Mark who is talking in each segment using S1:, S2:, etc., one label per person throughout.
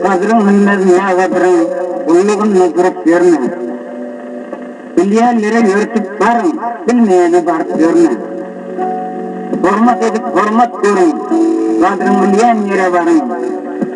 S1: Gazryň hünmez nägadirin Gullugynda durup ýörme. Bilýänlere ýörtüp baryň, Bilmeýene baryp ýörme. Hormat edip hormat görüň, Gadryn bilýän ýere baryň.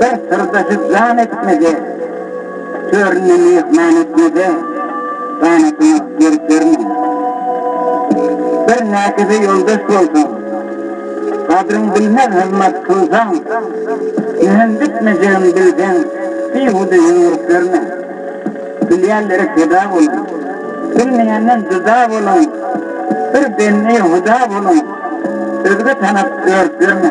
S1: Her syrda hüzyan etmede, Töründe myhman etmede, Ganatyňa gerip berme. Bir näkize ýoldaş bolsaň, Gadryň bilmez hyzmat kylsaň, Ýüzün dikmejegin bilseň, Bihuda ýüň urup ýörme. Bilýänlere peda boluň, Bilmeýänden juda boluň, Bir bendi Huda boluň, Özge tanap örüp ýörme.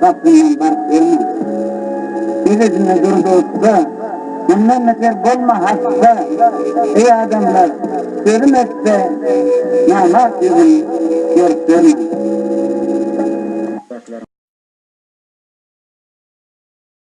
S1: gapyndan baryp görme. Ejesine dur dostda, mundan beter bolma hasta, eý adamlar, sözüm ötse, namart ýüzün görüp görme.